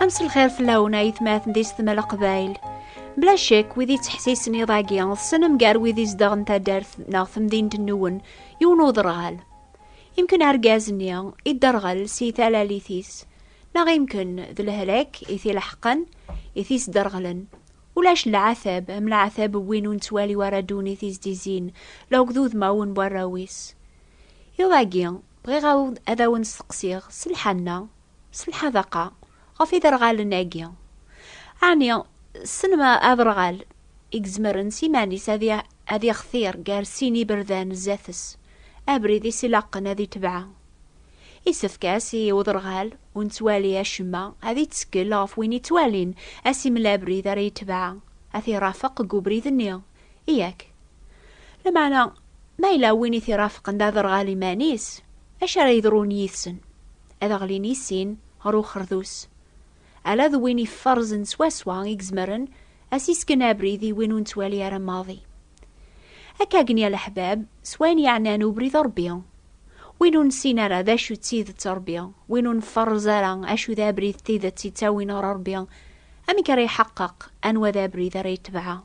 Ames lxir fell-awen ay tmaten di setma leqbayl. Bla cek, wid yettḥessisen iḍ-agi, ḍsenen gar wid izedɣen taddart neɣ temdint nwen, yiwen uderɣal. Imken argaz-nni idderɣel si talalit-is, neɣ imken d lehlak i t-ileḥqen, i t-isderɣlen. Ulac leɛtab am leɛtab n win ur nettwali wara ddunit i s-d-izzin, la akked udmawen n warraw-is. Iḍ-agi, bɣiɣ ad awen-steqsiɣ, s lḥenna, S lḥadaqa ɣef iderɣalen-agi, ɛni ssen ma aderɣal i izemren s iman-is ad ixtir gar sin iberdan zdat-s, abrid i s-ilaqen ad itebɛa. Isefk-as i uderɣal ur nettwali acemma ad ittkel ɣef win ittwalin, ad s-imel abrid ara itebɛa, ad t-irafeq deg ubrid-nni, Yak. Lameɛna, ma yella win i t-irafqen d aderɣal iman-is, acu ara yeḍrun yid-sen? Ad ɣlin i sin ɣer uxerdus. Ala d win iferrzen swaswa i izemren ad s-isken abrid i win ur nettwali ara maḍi. Akka gen ya leḥbab, s wayen yeɛnan ubrid Ṛebbi. Win ur nessin ara d acu d tidet Ṛebbi, win ur nferrez ara acu d abrid d tidet yettawin ɣer Ṛebbi, amek ara iḥeqqeq anwa d abrid ara yetbeɛ?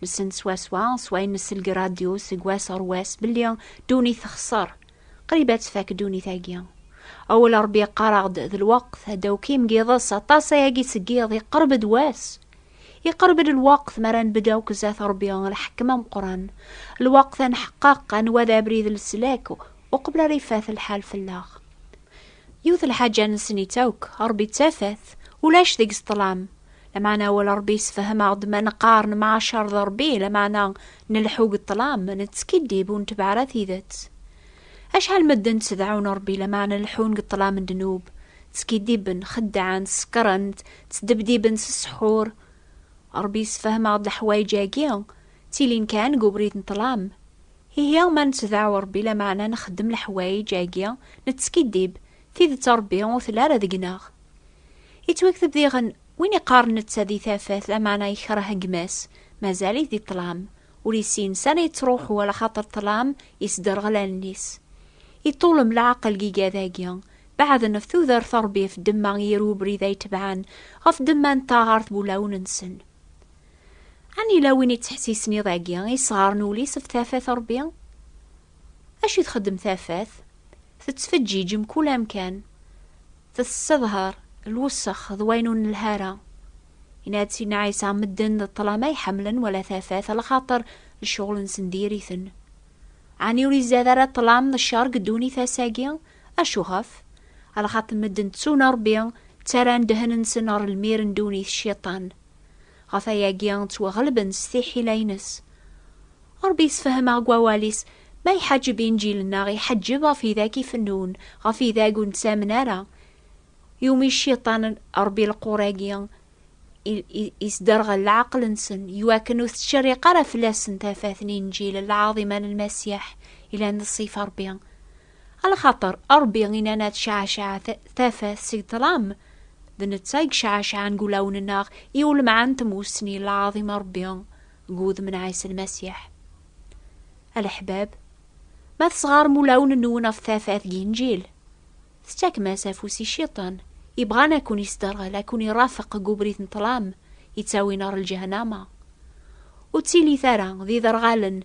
Nessen swaswa s wayen nessel deg radyu seg wass ɣer wass belli ddunit texṣer, qrib ad tfak ddunit-agi. Awal Rebbi yeqqar-aɣ-d d lweqt ad d-awkim giḍes aṭas ayagi seg yiḍ iqerb-d wass. Iqerb-d lweqt mi ara nbedd akk zdat Rebbi lḥekkem ameqqran, lweqt ad nḥeqqeq anwa d abrid n leslak uqbel ara ifat lḥal fell-aɣ. Yiwet lḥaǧa nesnit akk, Ṛebbi d tafat, ulac deg-s ṭṭlam. Lameɛna awal Ṛebbi yessefhem-aɣ-d ma neqqar nemɛacaṛ d Ṛebbi, lameɛna nleḥḥu deg ṭṭlam, nettskiddib, ur netbeɛ ara tidet. Acḥal medden ttdeɛɛun Ṛebbi, lameɛna leḥḥun deg ṭṭlam n ddnub, ttskiddiben, xeddɛen, sekkṛen, ttdebdiben s ssḥur. Ṛebbi yessefhem-aɣ-d leḥwayeǧ-agi, ttilin kan deg ubrid n ṭṭlam. Ihi ma nettdaɛu Ṛebbi lameɛna nxeddem leḥwayeǧ agi, nettskiddib, tidet Ṛebbi ur telli ara deg-neɣ. Yettwakteb diɣen, Win iqqaren netta di tafat, lameɛna ikreh gma-s, mazal-it di ṭṭlam, ur issin sani yettṛuḥu, alaxaṭer ṭṭlam yesderɣel allen-is. Iṭṭulem leɛqel deg igadagi, beɛden ɣef tudert Ṛebbi ɣef ddemma i yir ubrid ay tebɛen, ɣef ddemma n taɣert n wulawen-nsen. Ani la win yettḥessisen iḍ-agi isɣaren ul-is ɣef tafat Ṛebbi? Acu i txeddem tafat? Tettfeǧǧiǧ mkul amkan, tessedher lwessex d wayen ur nelha ara. Yenna-d Sidna Ɛisa, medden d ṭṭlama iḥemmlen wala tafat, alaxaṭer lecɣel-nsen diri-ten. Ani ur izad ara ṭṭlam d cceṛ deg ddunit ass-agi? Acuɣef? Alaxaṭer medden ttun Ṛebbi, ttarran ddehn-nsen ɣer lmir n ddunit, Cciṭan. Ɣef ayagi ttwaɣelben s tiḥila-ines. Ṛebbi yessefhem-aɣ deg wawal-is, ma iḥaǧeb inǧilen-aɣ, iḥeǧǧeb ɣef idak ifennun, ɣef idag ur nettamen ara. Yumi Cciṭan Ṛebbi lequr-agi, isderɣel leɛqel-nsen, iwakken ur tettcerriq ara fell-asen tafat n Inǧil lɛaḍima n Lmasiḥ, yellan d ṣṣifa Ṛebbi. Ala xaṭer Ṛebbi i nana tecɛeceɛ tafat seg ṭṭlam, d netta i yecɛeceɛen deg wulawen-nneɣ i ulemɛan n tmussni n lɛaḍima n Ṛebbi deg wudem n Ɛisa Lmasiḥ. A leḥbab, ma tesɣarem ulawen-nwen ɣef tafat n Yinǧil, tettakem-as afus i Cciṭan, yebɣan ad ken-isderɣel, ad ken-irafeq deg ubrid n ṭṭlam yettawin ɣer lǧehnama. Ur ttili-t ara d iderɣalen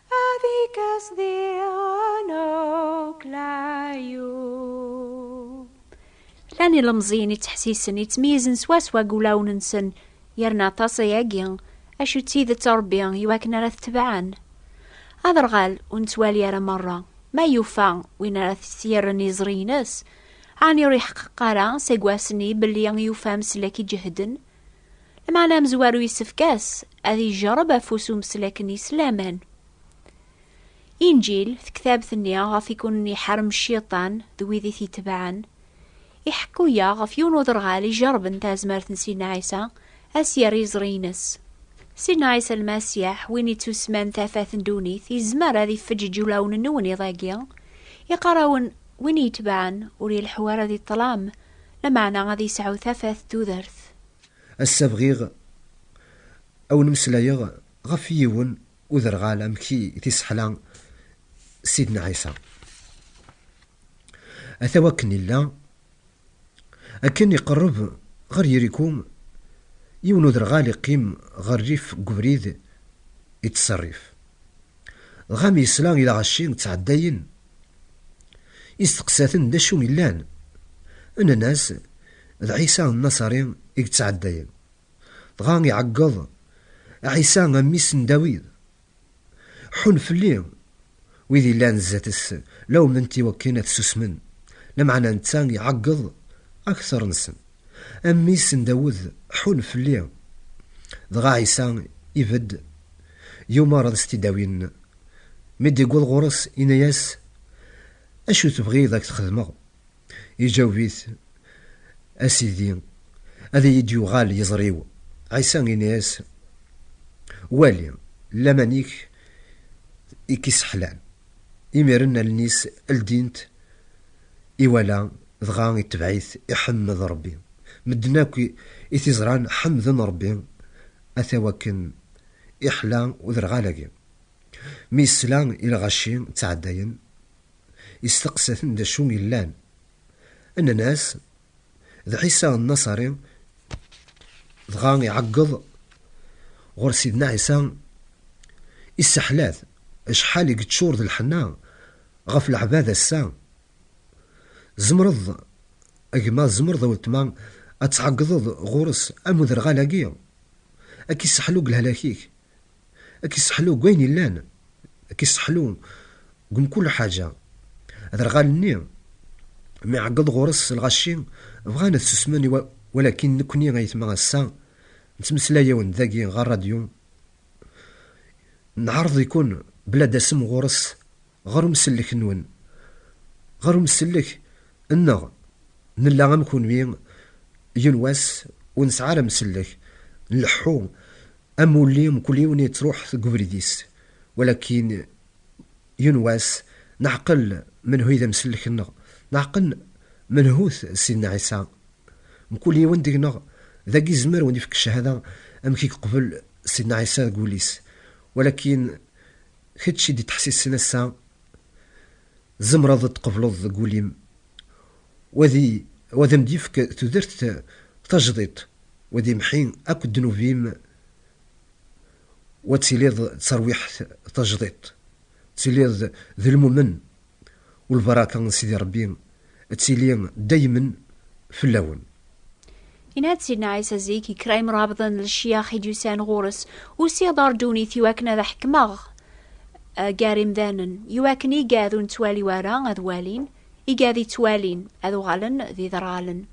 Llan ilemẓiyen ittḥessisen yettmeyyizen swaswa deg wulawen-nsen yerna aṭas ayagi acu d tidet Ṛebbi iwakken ara t-tebɛen. Aderɣal ur nettwali ara merra ma yufa win ara t-yerren iẓri-ines, ɛni ur iḥeqqeq ara seg wass-nni belli yufa ameslek iǧehden Lmeɛna amezwaru yessefk-as ad yejreb afus umeslak n yislaman. Inǧil, tektabt-nni ɣef i kunen iḥarem cciṭan d wid i t-itebɛen, iḥekku-yaɣ ɣef yiwen uderɣal ijerben tazmert n Sidna Ɛisa ad s-yerr iẓri-ines. Sidna Ɛisa Lmasiḥ, win ittusman tafat n ddunit, yezmer ad ifeǧǧeǧ ulawen-nwen iḍ-agi, iqqar-awen, win i itebɛen ur ileḥḥu ara di ṭṭlam Lameɛna ad yesɛu tafat d tudert. Ass-a bɣiɣ a wen-meslayeɣ ɣef yiwen uderɣal amek i t-isseḥla Sidna Ɛisa. Ata wakken illa, akken iqerreb ɣer Yiriku, yiwen uderɣal iqqim ɣer rrif n ubrid ittṣerrif. Dɣa mi yesla i lɣaci ttɛeddayen Isteqsa-ten d acu yellan. Nnan-as, D Ɛisa Nnaṣari i yettɛeddayen. Dɣa iɛeggeḍ, Ɛisa a mmi-s n Dawid! Ḥun fell-i! Wid yellan zdat-s lawmen-t iwakken ad susmen, lameɛna netta iɛeggeḍ akteṛ-nsen, A mmi-s n Dawed, ḥun fell-i! Dɣa Ɛisa ibedd, yumeṛ ad s-t-id-awin. Mi d-iwweḍ ɣur-s, yenna-yas, Acu tebɣiḍ ad k-t-xedmeɣ? Iǧaweb-it, A Sidi, ad iyi-d-yuɣal yiẓri-w. Ɛisa yenna-yas, Wali, laman-ik i k-isseḥlan. Imiren allen-is ldint, iwala, dɣa itebɛ-it, iḥemmed Ṛebbi. Medden akk i t-iẓran ḥemmden Ṛebbi, ata wakken iḥla uderɣal-agi. Mi yesla i lɣaci ttɛeddayen, yesteqsa-ten d acu yellan. Nnan-as, D Ɛisa Nnaṣari. Dɣa iɛeggeḍ ɣur Sidna Ɛisa, isseḥla-t acḥal i yeččur d lḥenna ɣef leɛbad ass-a. Tzemreḍ a gma, tzemreḍ a weltma ad tɛeggdeḍ ɣur-s am uderɣal-agi, ad k-isseḥlu deg lehlak-ik? Ad k-isseḥlu deg wayen yellan, ad k-isseḥlu deg mkul ḥaǧa. Aderɣal-nni mi iɛeggeḍ ɣur-s lɣaci, bɣan ad susmen walakin nekkni ayetma ass-a nettmeslay-awen-d dagi ɣer rradyu, nɛerḍ-ikun bla dasem ɣur-s Ɣer umsellek-nwen, ɣer umsellek nneɣ, nella am kunwi, yiwen wass ur nesɛi ara amsellek, nleḥḥu am wulli mkul yiwen yettruḥ deg ubrid-is, walakin yiwen wass neɛqel menhu i d amsellek-nneɣ, neɛqel menhu-t Sidna Ɛisa. Mkul yiwen deg-neɣ dagi izmer wen-ifk cchada amek i yeqbel Sidna Ɛisa deg wul-is, walakin. Kečč i d-ittḥessisen ass-a, tzemreḍ ad tqebleḍ deg wul-im u ad am-d-yefk tudert tajdiṭ u ad imḥi akk ddnub-im u ad tiliḍ d tarwiḥt tajdiṭ, tiliḍ d lmumen U lbaraka n Sidi Ṛebbi ad tili daymen fell-awen. Yenna-d Sidna Ɛisa zik i kra imṛabḍen n lecyax i d-yusan ɣur-s, Usiɣ-d ɣer ddunit i wakken ad ḥekmeɣ gar imdanen, i wakken igad ur nettwali wara ad walin, igad ittwalin ad uɣalen d iderɣalen.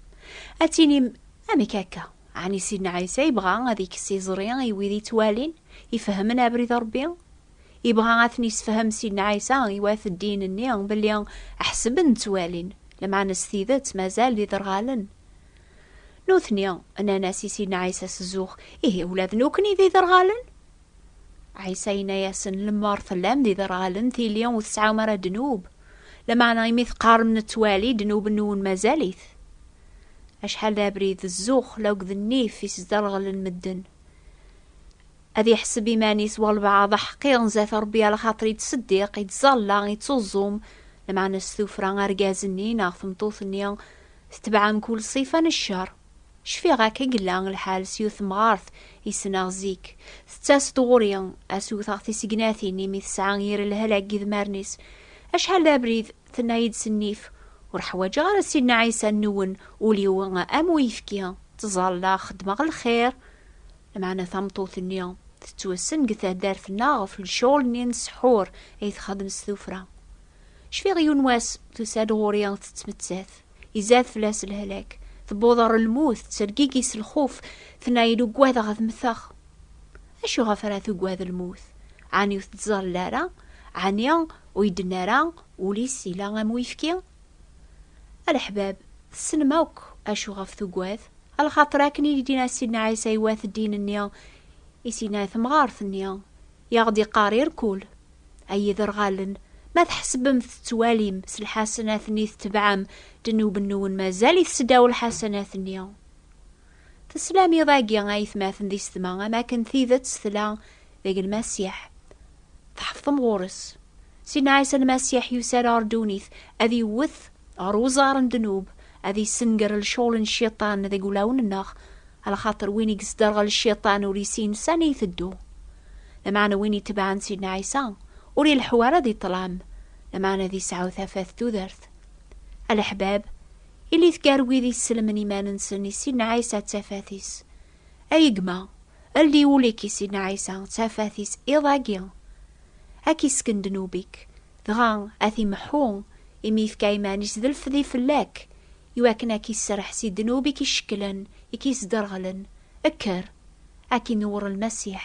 Ad tinim, Amek akka? Ɛni Sidna Ɛisa yebɣa ad ikkes iẓri i wid ittwalin, ifehhmen abrid n Ṛebbi? Ibɣa ad ten-isefhem Sidna Ɛisa i wat ddin-nni belli ḥesben ttwalin, lmeɛna s tidet mazal d iderɣalen. Nutni nnan-as i Sidna Ɛisa s zzux, Ihi ula d nukni d iderɣalen? Ɛisa yenna-yasen, Lemmer tellam d iderɣalen tili ur tesɛum ara ddnub, lmeɛna imi teqqarem nettwali ddnub-nwen mazal-it. Acḥal d abrid d zzux laged nnif i sderɣlen medden. Ad iḥseb iman-is walbeɛḍ aḥqiren zdat Ṛebbi ala xaṭer yettseddiq, yettẓalla, yettuẓum, lmeɛna s tuffra argaz-nni neɣ tmeṭṭut-nni tetbeɛ mkul ṣṣifa n cceṛ. Cfiɣ akka i yella lḥal s yiwet temɣart i ssneɣ zik. Tettas-d ɣur-i ad s-wteɣ tisegnatin imi tesɛa yir lehla deg yidmaren-is. Acḥal d abrid, tenna-yi-d s nnif, ur ḥwaǧeɣ ara Sidna Ɛisa nwen, ul-iw am uyefki, ttẓallaɣ, xeddmeɣ lxir. Lameɛna tameṭṭut-nni tettwassen deg taddart-nneɣ ɣef lecɣal-nni n ssḥur ay txeddem s tuffra. Cfiɣ yiwen wass tusa-d ɣur-i tettmettat, izad fell-as lehlak, tewweḍ ɣer lmut, tettergigi s lxuf, tenna-iyi-d ugadeɣ ad mmteɣ. Acu ɣef ara tugad lmut? Ɛni ur tettẓallel ara? Ɛni ur iyi-d-tenna ara ul-is yella am uyefki? A leḥbab, tessnem akk acu ɣef tugad? A lxaṭer akken i k-d-yenna Sidna Ɛisa i wat ddin-nni, i s-yenna i temɣart-nni, i aɣ-d-yeqqar irkul, Ay iderɣalen, ma tḥesbem tettwalim s lḥasanat-nni tetebɛem, ddnub-nwen mazal-it seddaw lḥasanat-nni. Teslam iḍ-agi a yetmaten di setma am akken tidet tella deg Lmasiḥ. Tḥefḍem ɣur-s. Sidna Ɛisa Lmasiḥ yusa-d ɣer ddunit ad iwwet ɣer uẓar n ddnub, ad issenger lcɣel n Cciṭan deg ulawen-nneɣ, lxaṭer win i yesderɣel Cciṭan ur isin s ani iteddu. Lameɛna win itebɛen Sidna Ɛisa ur ileḥḥu ara di ṭṭlam, lameɛna ad isɛu tafat tudert. A leḥbab, Ilit gar wid isselmen iman-nsen i Sidna Ɛisa d tafat-is. Ay gma, ldi ul-ik i Sidna Ɛisa d tafat-is iḍ-agi. Ad k-isken ddnub-ik, dɣa ad t-imeḥḥu, imi yefka iman-is d lfdi fell-ak, iwakken ad k-isserreḥ si ddnub i k-icekklen, i k-isderɣlen. Kker, ad k-inewweṛ Lmasiḥ.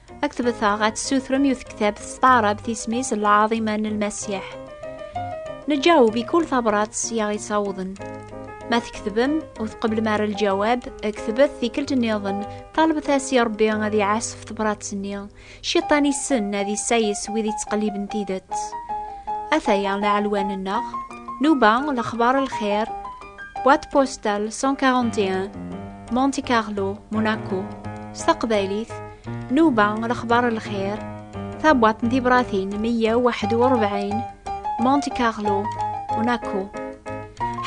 ad k-tebteɣ ad tessutrem yiwet ktabt s taɛrabt isem-is lɛaḍima n lmasiḥ neǧaweb i kul tabrat i aɣ-ittawḍen ma tketbem ur tqeblem ara lǧawab ktbet tikkelt nniḍen talbet-as i rebbi ad iɛasef tebrat-nni ciṭan issen ad isayes wid ittqelliben tidet ataya leɛlwan-nneɣ nuba lexbar lxir Boîte postale 141 Monte Carlo, Monaco s taqbaylit Nuba lexbar lxir tabwaṭ n tibratin 141 Monte Carlo, Monaco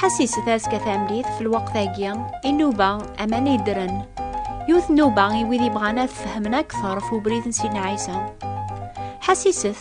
ḥasis tazka tamlit f lweqt-agi i nnuba aman yeddren yiwet nnuba i wid yebɣan ad fehmen akteṛ f ubrid n sidna ɛisa ḥasiset